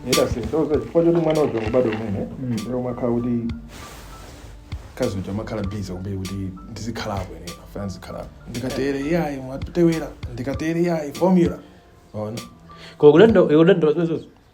era zisonse chifukwa choti mwana uja kubadwa umene lero makhala kuti kazi uja makhala busy kwambiri kuti ndizikhalapo ine afana ndizikhalapo ndikatere iyayi mwatewera ndikatere iyayi formula ona Kwa kulendo, kulendo,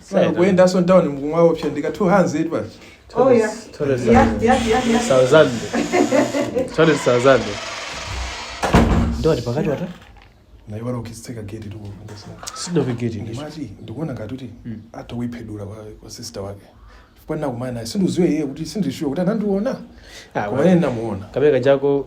Sasa kuyendanso mtauni mukumuopsa ndika 200 basi Oh, yeah. Tole sana. Yeah, yeah, yeah, yeah. Sauzande. Tole sauzande. Ndio ati pakati wata? naye wala ukitseka gate tikufungusa Sido vigeti ndicho. ndimachi ndikuona ngati kuti atayiphedula kwa kwa sister wake chifukwa ndinakumana naye sindidziwe iye kuti sindili shuwa kuti anandiona Ah, koma ine ndinamuona. Kabeka chako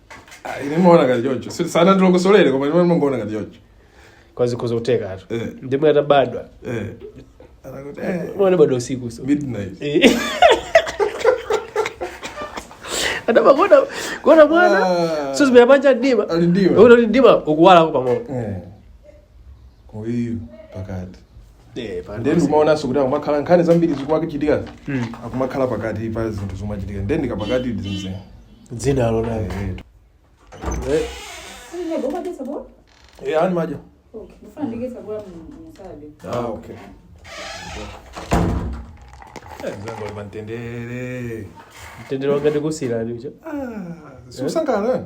Ah, ine maona ngati choncho Si- sanandilongosolere koma ine mangoona ngati choncho koma zikhoza kuthekatu Eh. ndiye atabadwa Eh. Anakuti, eh, mwana wabadwa usiku so midnight Eh. atamakaona kuona mwana Ah. so zimera panja ndima Ali ndima. Uno ndi ndima ukuwala ko pamoja Eh. uyu pakati Eh, pa- ndiye ndikumaonanso kuti akumakhala nkhani zambiri zikumachitika Mm. akumakhala pakati pa zinthu zomachitika ndiye ndikapakati ndimze dzina lonalo ndi limenelija Ah, okay. Eh, mzangu ali pamtendere mtendere wanga ndikusiyirani Ah, sukusangalala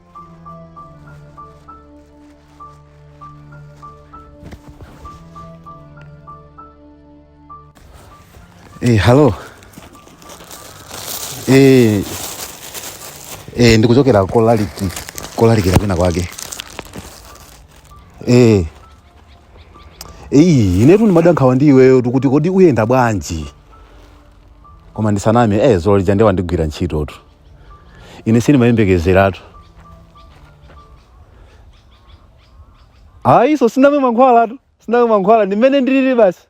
Eh, hello. Eh, eh, ndikuchokera kolaliki kolalikira kwina kwake eh. Iyi inetu ndimada nkhawa ndi iweyotu kuti kodi uyenda bwanji koma ndisaname eh zulo lija nde wandigwira ntchitotu ine sindimayembekezeratu ayi so sindamwe mankhwalatu sindamwe mankhwala ndi mmene ndilili basi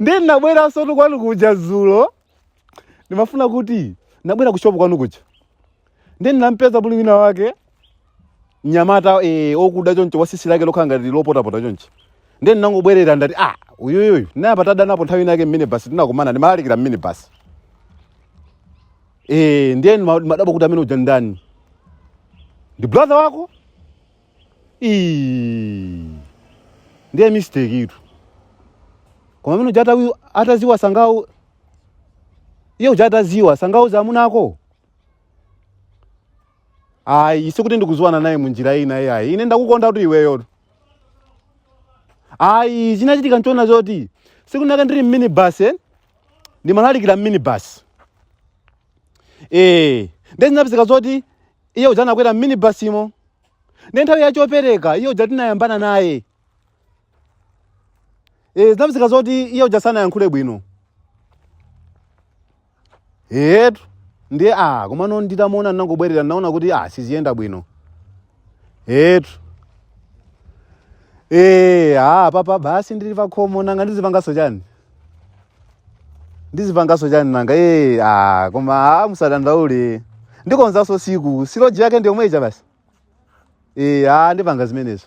ndiye ndinabweransotu kwanu kuja zulo ndimafuna kuti ndinabwera kushopu kwanu kuja ndiye ndinampeza pali wina wake mnyamata eh, okuda choncho watsitsi lake lokhala ngati lopotapota chonchi ndiye ndinangobwerera ndati ah uyuyuyu tinayamba tadanapo nthawi inake mmene basi tinakumana ndimalalikira mmene basi eh, ndiye ndima- ndimadabwa kuti amene uja ndani ndi brother wako Ii. ndiye mistake-tu koma amene uja atawi- ataziwa sangawu iye uja ataziwa sangauze amuna ako ayi sikuti ndikudziwana naye munjira ina iyayi ine ndakukonda kuti iweyotu ayi chinachitika nchona zoti tsiku linalake ndili mminibus eh? ndimalalikira mminibus ee nde zinapezeka zoti iye uja anakwera mminibusimo nde nthawi yachopereka iye uja tinayambana naye Eh, zinapezeka zoti iye uja sanayankhule bwino etu ndiye a komano nditamuona ndinangobwerera ndinaona kuti a siziyenda bwino etu Eh, ah, papa basi ndili pakhomo nanga ndizipangaso chani ndizipangaso chani nanga eh, ah, koma ah, musadandaule ndikonzaso tsiku sitoloji yake ndiyomwe ija basi eh, ah, ndipanga zimenezo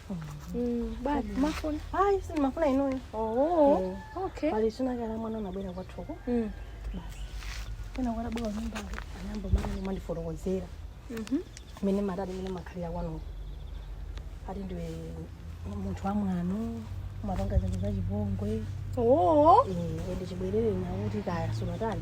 mafuna hayi sindimafuna inoyo oh okay pali tsiku linalake mwana anabwera kwathuko basi pena kwatabwera nyumba anayamba mwana amandifotokozera mene matani mene mumakhalira kwanuko ati ndiwe munthu wamwano umapanga zako zachipongwe oh ende chibwerere nakuti kaya sunatani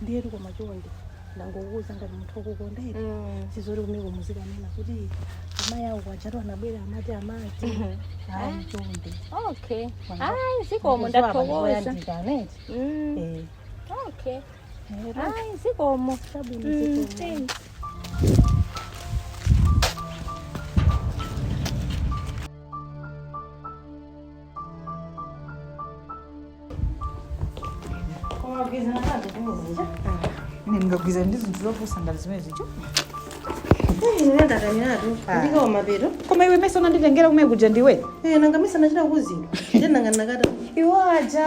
ndiyetu koma chonde ndangokuuza ngati munthu wokukondera Mm. sizoti kumeneko muzikanena kuti amayi awo ujatu anabwera amati amati ayi chonde okay Wanga. ayi zikomo ndathokoza ndathokoza aneti Mm, okay ayi zikomo Mm, thanks. ine ndingagwirizane ndi zinthu zopusa ngati zimenezo koma iwe ndimesa unanditengera kumwe kuja ndiwe nanga ndimesa nachita kuzinga nanga nakata iwo aja